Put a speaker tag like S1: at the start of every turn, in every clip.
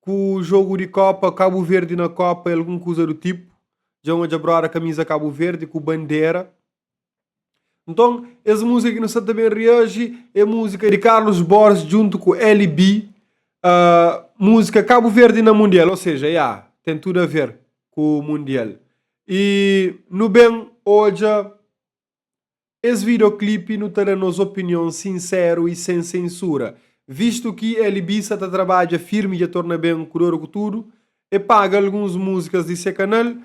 S1: Ku jogu di kopa kabu verdi na kopa é algun kuza du tipu dja un odja broda kamiza kabu verdi ku bandera nton es muzika ki nu sta ta ben reaji é muzika di karlus borges djuntu ku lb muzika kabu verdi na mundial ou seja ya ten tudu a ver ku mundial e nu ben odja Es videoclipe nu ta da nos opinion sinseru y sen sensura, vistu ki L-Bica ta trabadja firmi dja torna ben ku dor ku tudu, e paga alguns musikas di se kanal,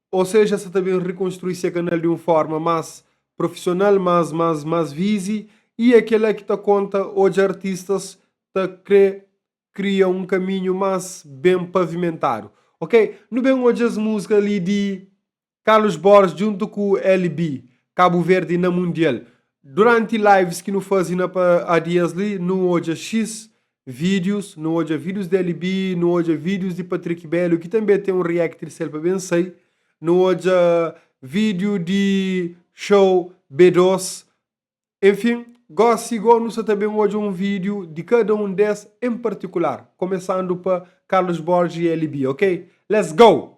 S1: o seja sa ta ben rikonstrui se kanal di un forma mas profisional, mas mas mas vizi y e kela ki ta konta odja artistas ta kre kria un kaminhu mas ben pavimentadu ok nu ben odja es musika li di Carlos Borges djuntu ku LB, Kabu Verdi na Mundial. Duranti lives ki nu faze na pa adias li, nu odja xis vídius, nu odja vídius di LB, nu odja vídius di Patrick Belo ki tanbê ten un react di Selpa Ben Sai, nu odja vídiu di show B-dos, enfin, gósi gó nu sa ta ben odja un vídiu di kada un des en partikular, komesandu pa Carlos Borges y LB, ok? Let's go!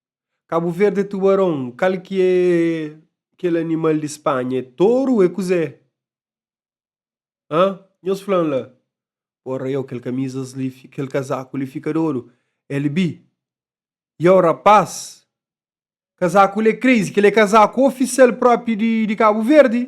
S1: Cabo Verde é tubarão. Kal ki é kel animal di Spanha? É toru? É kuzé? Hã? Nhos fla-m la. Porra, iau, kel kamizas li, kel kazaku li fika dodu. El bi. Iau, rapás, kazaku li é crazy, kel é kazaku ofisial própi di Cabo Verde.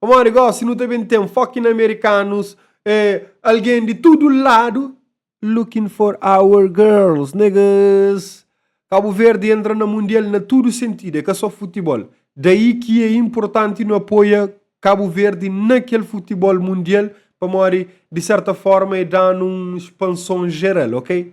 S1: Pamodi gósi nu ta ben ten foki na amerikanus, algen di tudu ladu looking for our girls niggas. Kabu Verdi entra na mundial na tudu sentidu, é ka só futibol. Daí ki é inportanti nu apoia Kabu Verdi na kel futibol mundial pamodi di serta forma é da-nu un spanson jeral, ok?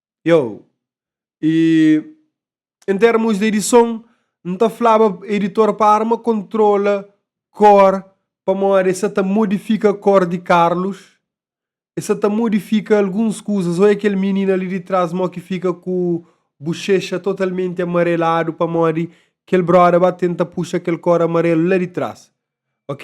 S1: Yo! E, en termos di edison, N ta flaba editor pa arma kontrola kor pamodi sa ta modifika kor di Carlos e sa ta modifika alguns kuzas oi kel minina li di tras mo ki fika ku buxexa totalmenti amareladu pamodi kel broda ba tenta puxa kel kor amarelu la di tras ok.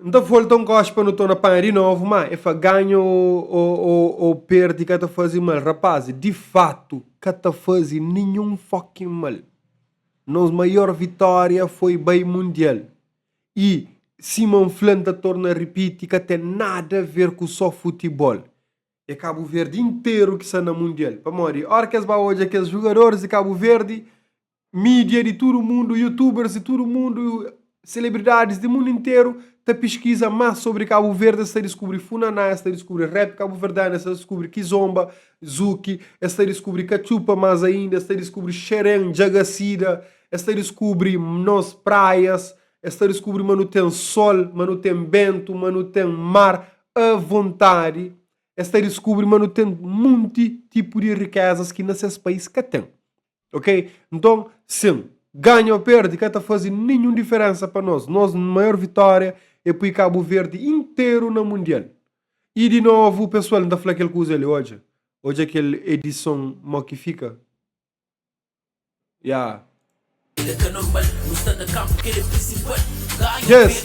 S1: N ta volta un goxe pa nu torna panha di novu, má é fa ganha ô, ô, ô perde ka ta faze mal. Rapazi, di fatu, ka ta faze ninhun fucking mal. Nos maior vitória foi bai Mundial. I, sima N fla, N ta torna ripiti, ka ten nada ver ku sô futibol. É Kabuverdi interu ki sta na Mundial. Pamodi, óras ki es ba odja kes jugadoris di Kabuverdi, Mídia di tudu mundu, youtubers di tudu mundu, celebridades di mundu interu ta piskiza más sobri Kabu Verdi, es ta diskubri Funaná, es ta diskubri rap kabuverdianu, es ta diskubri Kizomba, Zuki, es ta diskubri Katxupa más ainda, es ta diskubri Xeren, Djagasida, es ta diskubri nos praias, es ta diskubri ma nu ten sol, ma nu ten bentu, ma nu ten mar avontadi, es ta diskubri ma nu ten munti tipu di rikézas ki na ses pais ka ten. Ok? Nton, sin, ganha ô perde ka ta faze ninhun diferénsa pa nos. Nos maior vitória é poi Kabu Verdi interu na Mundial. I di novu, pesoal, N ta fla kel kuza li, odja, odja kel edison mau ki fika. Ya.
S2: Yes!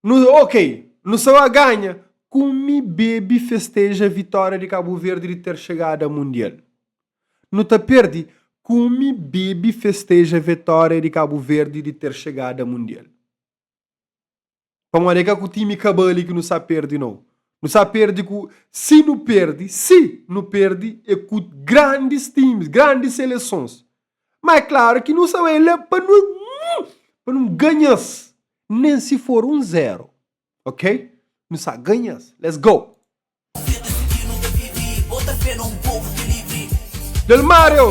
S1: Nu, ok, nu sa ba ganha. Kume, bebe, festeja vitória di Kabu Verdi di ter xegada Mundial. Nu ta perdi. Kume, bebe, festeja vitória di Kabu Verdi di ter xegada Mundial. Pamodi é ka ku time kabali ki nu sa perdi, nau. Nu sa perdi ku, si nu perdi, si nu perdi é ku grandis times, grandis selesons. Má é klaru ki nu sta bai la pa nu pa nu ganha-s, nen si for un zéru, ok? Nu sta ganha-s. Let's go! Delmario!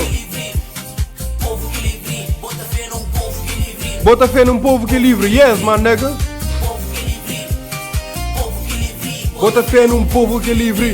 S1: Bota fé nun povu ki é livri, yes my nigga! Bota fé nun povu ki é livri.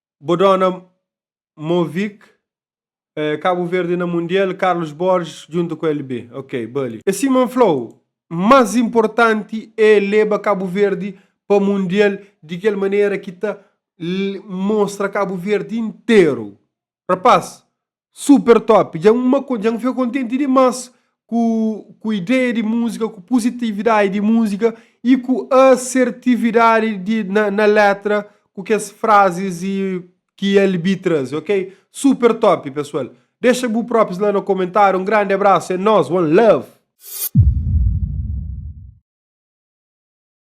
S1: Bo dona Movik Cabo Verde na Mundial, Carlos Borges djuntu ku LB. Ok, Bully. É sima N flau, más inportanti é leba Cabo Verde pa Mundial di kel manera ki ta mostra Cabo Verde interu. Rapaz, Super top, dja n ma dja n fika kontenti dimás ku ku ideia di múzika, ku puzitividadi di múzika i ku asertividadi di na na letra ku kes frazis i ki LB traze ok. Super top pesoal. Dexa bu propis la na komentariu. Un grandi abrasu, é nós, one love!